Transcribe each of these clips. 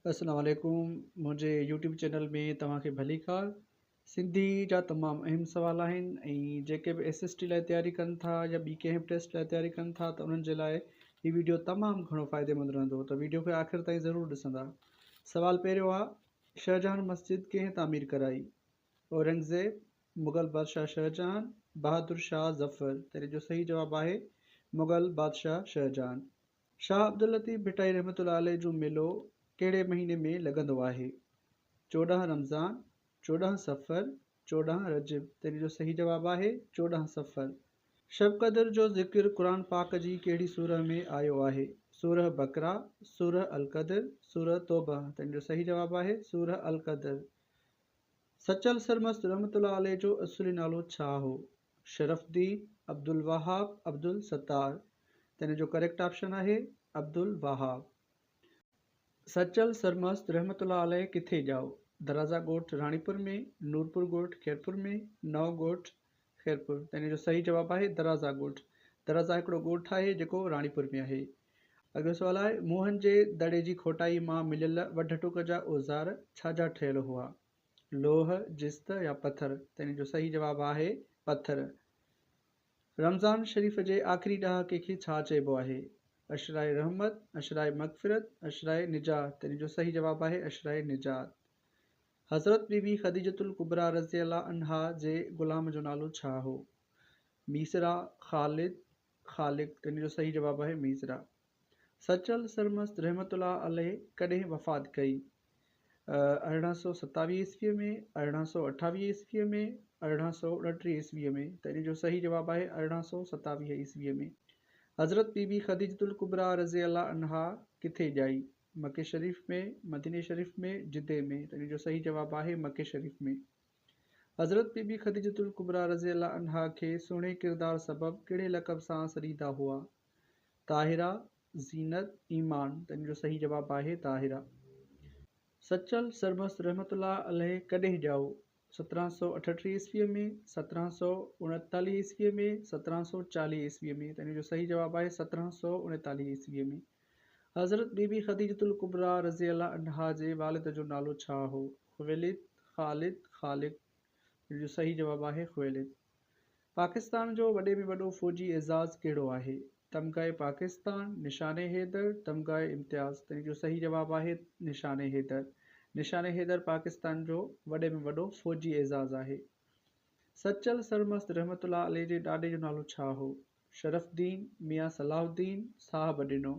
اسلام عليڪم منهنجي يوٽيوب چينل ۾ توهان کي ڀليڪار سنڌي جا تمام اهم سوال آهن ۽ جيڪي به ايس ايس ٽي لاء تياري ڪن ٿا يا ٻي ڪنهن به ٽيسٽ لاء تياري ڪن ٿا ته انهن جي لاء هي ويڊيو تمام گهڻو فائدي مند رهندو ته ويڊيو کي آخر تائين ضرور ڏسندا سوال پهريون آ شهجهان مسجد ڪنهن تعمير ڪرائي اورنگزيب مغل بادشاهه شهجهان بهادر شاهه ظفر تنهن جو صحيح جواب آهي مغل بادشاهه شهجهان شاهه عبداللطيف ڀٽائي رحمة الله عليه جو ميلو ڪهڙي مهيني ۾ لڳندو آهي؟ چوڏهن رمضان، چوڏهن صفر، چوڏهن رجب تنهن جو صحيح جواب آهي چوڏهن صفر. شب قدر جو ذڪر قرآن پاڪ جي ڪهڙي سوره ۾ آيو آهي؟ سوره بقره، سوره القدر، سوره توبه تنهن جو صحيح جواب آهي سوره القدر. سچل سرمست رحمة الله عليه جو اصولي نالو ڇا هو؟ شرفدي عبدالوهاب عبدالستار تنهن جو ڪريڪٽ آپشن آهي عبدالوهاب سچل سرمست رحمت الله عليه ڪٿي ڄائو درازا ڳوٺ راڻيپور ۾ نورپور ڳوٺ خيرپور ۾ نئون ڳوٺ خيرپور تنهن جو صحيح جواب آهي درازا ڳوٺ درازا هڪڙو ڳوٺ آهي جيڪو راڻيپور ۾ آهي اڳيو سوال آهي موهن جي دڙي جي کوٽائي مان مليل وڍ ٽوڪ جا اوزار ڇا جا ٺهيل هئا لوح، جست يا پٿر؟ ته ان جو صحيح جواب آهي پٿر. رمضان شريف جي آخري ڏهاڪي کي ڇا چئبو آهي؟ عشرهء رحمت، عشرهء مغفرت، عشرهء نجات؟ ته ان جو صحيح جواب آهي عشرهء نجات. حضرت بي بي خديجة الڪبريٰ رضي الله عنها جي غلام جو نالو ڇا هو؟ ميسرا، خالد، خالق، تنهن جو صحيح جواب آهي ميسرا. سچل سرمست رحمة الله عليه ڪڏهن وفات ڪئي؟ ارڙهن سؤ ستاويهه عيسويء ۾، ارڙهن سؤ اٺاويهه عيسويء ۾، ارڙهن سؤ اڻٽيهه عيسويء ۾، ته ان جو صحيح جواب آهي ارڙهن سؤ ستاويهه عيسويء ۾. حضرت بي بي خديجة الڪبريٰ رضي الله عنها ڪٿي ڄائي؟ مڪي شريف ۾، مديني شريف ۾، جدي ۾، ته ان جو صحيح جواب آهي مڪي شريف ۾. حضرت بي بي خديجة الڪبريٰ رضي الله عنها کي سهڻي ڪردار سبب ڪهڙي لقب سان سڏيندا هئا؟ طاهره، زينت، ايمان، ته ان جو صحيح جواب آهي طاهره. سچل سرمست رحمة الله عليه ڪڏهن ڄائو؟ سترهن سؤ اٺٽيهه عيسويء ۾، سترهن سؤ اڻيتاليهه عيسويء ۾، سترهن سؤ چاليهه عيسويء ۾، ته ان جو صحيح جواب آهي سترهن سؤ اڻيتاليهه عيسويء ۾. حضرت بي بي خديجة الڪبريٰ رضي الله عنها جي والد جو نالو ڇا هو؟ خويلد، خالد، خالق؟ جن جو صحيح جواب آهي خويلد. پاڪستان جو وڏي ۾ وڏو فوجي اعزاز ڪهڙو آهي؟ تمغه پاڪستان، نشان حيدر، تمغه امتياز؟ تن جو صحيح جواب آهي نشان حيدر. نشان حيدر پاڪستان جو وڏي ۾ وڏو فوجي اعزاز آهي. سچل سرمست رحمة الله عليه جي ڏاڏي جو نالو ڇا هو؟ شرف الدين ميان صلاح الدين صاحب ڏنو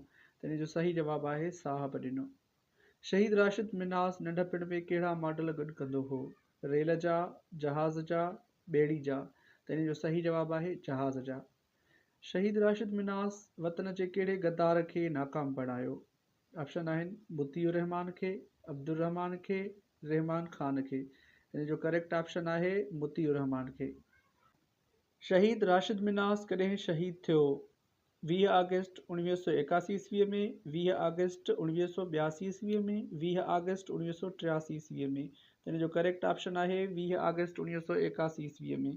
تنهن جو صحيح جواب آهي صاحب ڏنو. شهيد راشد منهاز ننڍپڻ ۾ ڪهڙا ماڊل گڏ ڪندو هو؟ ريل جا، جهاز جا، ٻيڙي جا تنهن جو صحيح جواب آهي جهاز جا. شهيد راشد منهاز وطن جي ڪهڙي غدار کي ناڪام بڻايو؟ آپشن آهن مطيع الرحمان کي، عبدالرحمان کي، رحمان خان کي تنهن جو ڪريڪٽ آپشن آهي مطيع الرحمان کي. شهيد راشد منهاس ڪڏهن شهيد ٿيو؟ ويهه آگسٽ اوڻويهه سؤ ايڪاسي عيسوي ۾، ويهه آگسٽ اوڻويهه سؤ ٻياسي عيسوي ۾، ويهه آگسٽ اوڻويهه سؤ ٽياسي عيسوي ۾، ته ان جو ڪريڪٽ آپشن آهي ويهه آگسٽ اوڻويهه سؤ ايڪاسي عيسوي ۾.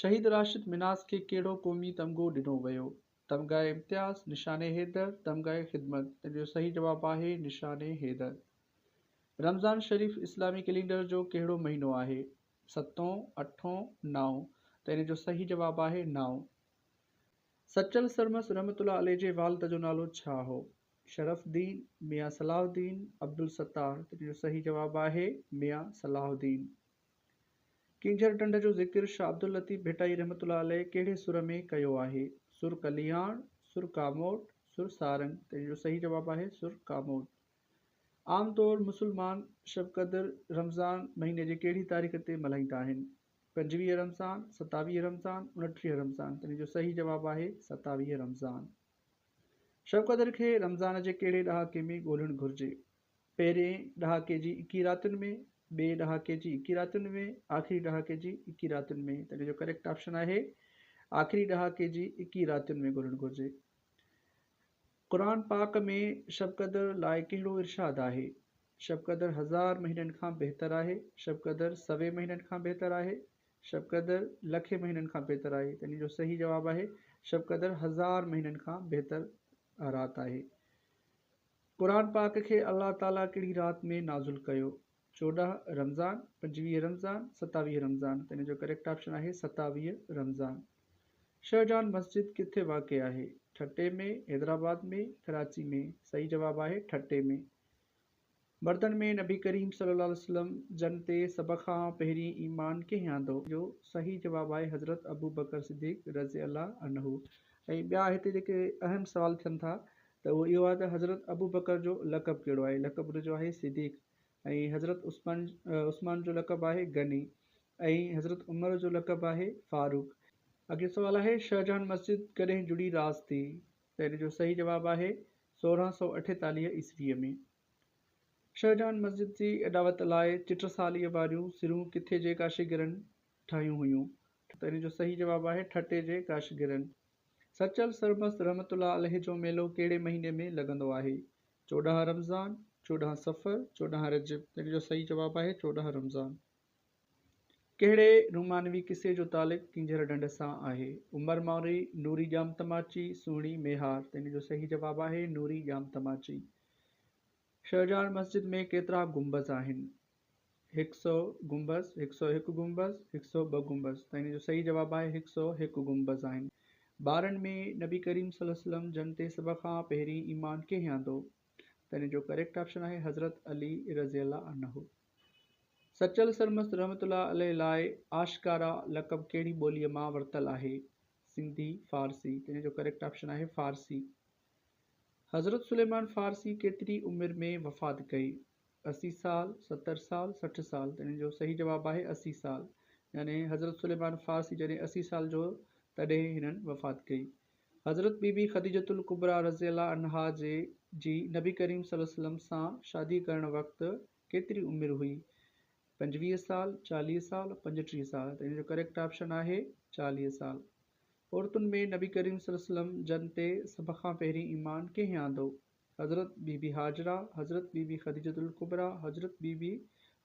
شهيد راشد منهاس کي ڪهڙو قومي تمغو ڏنو ويو؟ تمغه امتياز، نشان حيدر، تمغه خدمت، ته ان جو صحيح جواب آهي نشان حيدر. رمضان شريف اسلامي ڪئلينڊر جو ڪهڙو مهينو آهي؟ ستون، اٺون، نائون ته ان جو صحيح جواب آهي نائون. سچل سرمست رحمة الله عليه جي والد جو نالو ڇا هو؟ شرف الدين، ميان صلاح الدين، عبدالستار ته ان جو صحيح جواب آهي ميان صلاح الدين. ڪينجهر ڍنڍ جو ذڪر شاھ عبداللطيف ڀٽائي رحمة الله عليه ڪهڙي سر ۾ ڪيو آهي؟ سر ڪلياڻ، سر ڪاموٽ، سر سارنگ ته ان جو صحيح جواب آهي سر ڪاموٽ. عام طور مسلمان شب قدر رمضان مهيني جي ڪهڙي تاريخ تي ملهائيندا آهن؟ پنجويهه رمضان، ستاويهه رمضان، اڻٽيهه رمضان تنهن جو صحيح جواب آهي ستاويهه رمضان. شب قدر کي رمضان جي ڪهڙي ڏهاڪي ۾ ڳولهڻ گهرجي؟ پهرين ڏهاڪي جي اڪيهه راتين ۾، ٻئي ڏهاڪي جي اڪيهه راتين ۾، آخري ڏهاڪي جي اڪيهه راتين ۾ تنهن جو ڪريڪٽ آپشن آهي آخري ڏهاڪي جي اڪيهه راتين ۾ ڳولهڻ گهرجي. قرآن پاڪ ۾ شب قدر لاء ڪهڙو ارشاد آهي؟ شب قدر هزار مهينن کان بهتر آهي، شب قدر سوين مهينن کان بهتر آهي، شب قدر لکين مهينن کان بهتر آهي ته ان جو صحيح جواب آهي شب قدر هزار مهينن کان بهتر رات آهي. قرآن پاڪ کي الله تعاليٰ ڪهڙي رات ۾ نازل ڪيو؟ چوڏهن رمضان، پنجويهه رمضان، ستاويهه رمضان ته ان جو ڪريڪٽ آپشن آهي ستاويهه رمضان. شهجهان مسجد ڪٿي واقع آهي؟ ٺٽي ۾، حيدرآباد ۾، ڪراچي ۾؟ صحيح جواب آهي ٺٽي ۾. مردن ۾ نبي ڪريم صلي الله عليه وسلم جن تي سڀ کان پهرين ايمان ڪنهن آندو؟ ان جو صحيح جواب آهي حضرت ابوبڪر صديق رضي الله عنه. ۽ ٻيا هتي جيڪي اهم سوال ٿين ٿا ته اهو اهو آهي ته حضرت ابوبڪر جو لقب ڪهڙو آهي؟ لقب ان جو آهي صديق. ۽ حضرت عثمان عثمان جو لقب آهي غني ۽ حضرت عمر جو لقب آهي فاروق. اڳين سوال آهي شاهجهان مسجد ڪڏهن جڙي راز تي ته ان جو صحيح جواب آهي سورهن سؤ اٺيتاليهه عيسويء ۾ شاهجهان مسجد جي اڏاوت لاء چٽساليء واريون سرون ڪٿي جي ڪاشيگرن ٺاهيون هيون ته ان جو صحيح جواب آهي ٺٽي جي ڪاشيگرن سچل سرمست رحمت الله عليه جو ميلو ڪهڙي مهيني ۾ لڳندو آهي چوڏهن رمضان، چوڏهن صفر، چوڏهن رجب تن جو صحيح جواب آهي چوڏهن رمضان. ڪهڙي رومانوي قصي جو تعلق ڪينجهر ڍنڍ سان آهي؟ عمر مانوري، نوري ڄام تماچي، سهڻي ميهار تن جو صحيح جواب آهي نوري ڄام تماچي. شهجهان مسجد ۾ ڪيترا گنبذ آهن؟ هڪ سئو گنبذ، هڪ سئو هڪ گنبذ، هڪ سئو ٻه گنبذ ته هن جو صحيح جواب آهي هڪ سئو هڪ گنبذ آهن. ٻارن ۾ نبي ڪريم صلي الله عليه وسلم جن تي سڀ کان پهرين ايمان ڪنهن آندو؟ ته هن جو ڪريڪٽ آپشن آهي حضرت علي رضي الله عنه. سچل سرمست رحمة الله عليه لاء آشڪارا لقب ڪهڙي ٻوليء مان ورتل آهي؟ سنڌي، فارسي ته هن جو ڪريڪٽ آپشن آهي فارسي. حضرت سليمان فارسي ڪيتري عمر ۾ وفات ڪئي؟ اسي سال، ستر سال، سٺ سال تنهن جو صحيح جواب آهي اسي سال يعني حضرت سليمان فارسي جڏهن اسي سال جو تڏهن هنن وفات ڪئي حضرت بي بي خديجة الڪبريٰ رضي الله عنها جي جي نبي ڪريم صلي وسلم سان شادي ڪرڻ وقت ڪيتري عمر هئي پنجويهه سال چاليهه سال پنجٽيهه سال تنهن جو ڪريڪٽ آپشن آهي چاليهه سال عورتن ۾ نبي ڪريم صلي وسلم جن تي سڀ کان پهرين ايمان ڪنهن آندو حضرت بي بي هاجره، حضرت بي بي خديجة الڪبريٰ، حضرت بي بي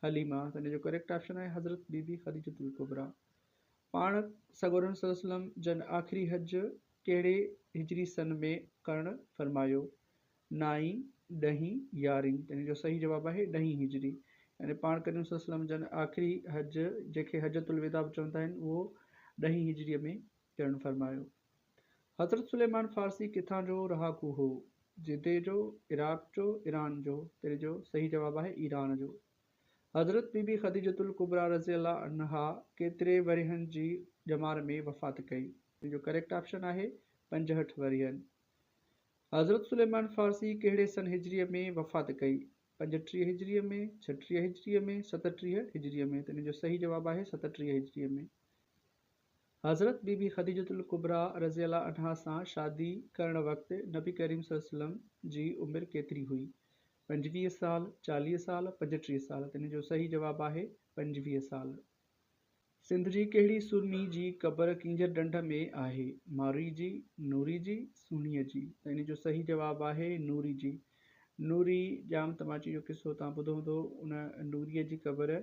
حليمه ته هن جو ڪريڪٽ آپشن آهي حضرت بي بي خديجة الڪبريٰ. پاڻ سڳورن صلي وسلم جن آخري حج ڪهڙي هجري سن ۾ ڪرڻ فرمايو؟ نائين، ڏهين، يارهين ته هن جو صحيح جواب آهي ڏهين هجري. يعني پاڻ ڪريم صلي وسلم جن آخري حج جنهن کي حجة الوداع به چوندا آهن اهو ڏهين هجري ۾ ڪرڻ فرمايو. حضرت سليمان فارسي ڪٿان جو رهاڪو هو؟ جدي جو، عراق جو، ايران جو؟ تري جو صحيح جواب آهي ايران جو. حضرت بي بي خديجة الڪبريٰ رضي الله عنها ڪيتري ورهين جي ڄمار ۾ وفات ڪئي؟ تري جو ڪريڪٽ آپشن آهي پنجهٺ ورهين. حضرت سليمان فارسي ڪهڙي سن هجريء ۾ وفات ڪئي؟ پنجٽيهه هجريء ۾، ڇهٽيهه هجريء ۾، ستٽيهه هجريء ۾؟ تري جو صحيح جواب آهي ستٽيهه هجريء ۾. حضرت بي بي خديجة الڪبريٰ رضي الله عنها سان شادي ڪرڻ وقت نبي ڪريم صلي الله عليه وسلم جي عمر ڪيتري هئي؟ پنجويهه سال، چاليهه سال، پنجٽيهه سال تنهن جو صحيح جواب آهي پنجويهه سال. سنڌ جي ڪهڙي سرمي جي قبر ڪينجهر ڍنڍ ۾ آهي؟ مارئي جي، نوري جي، سهڻيء جي؟ ته ان جو صحيح جواب آهي نوري جي. نوري ڄام تماچي جو قصو توهان ٻڌو هوندو ان نوريء جي قبر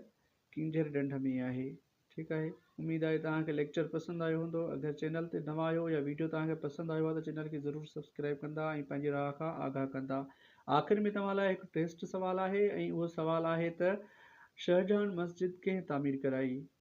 ڪينجهر ڍنڍ ۾ آهي. ٺيڪ آهي اميد آهي توهان کي ليڪچر پسند آيو هوندو اگر چينل تي نوان آهيو يا ويڊيو توهان کي پسند آيو آهي ته چينل کي ضرور سبسڪرائب ڪندا ۽ پنهنجي راء کان آگاهه ڪندا آخر ۾ توهان لاء هڪ ٽيسٽ سوال آهي ۽ اهو سوال آهي ته شهجهان مسجد ڪنهن تعمير ڪرائي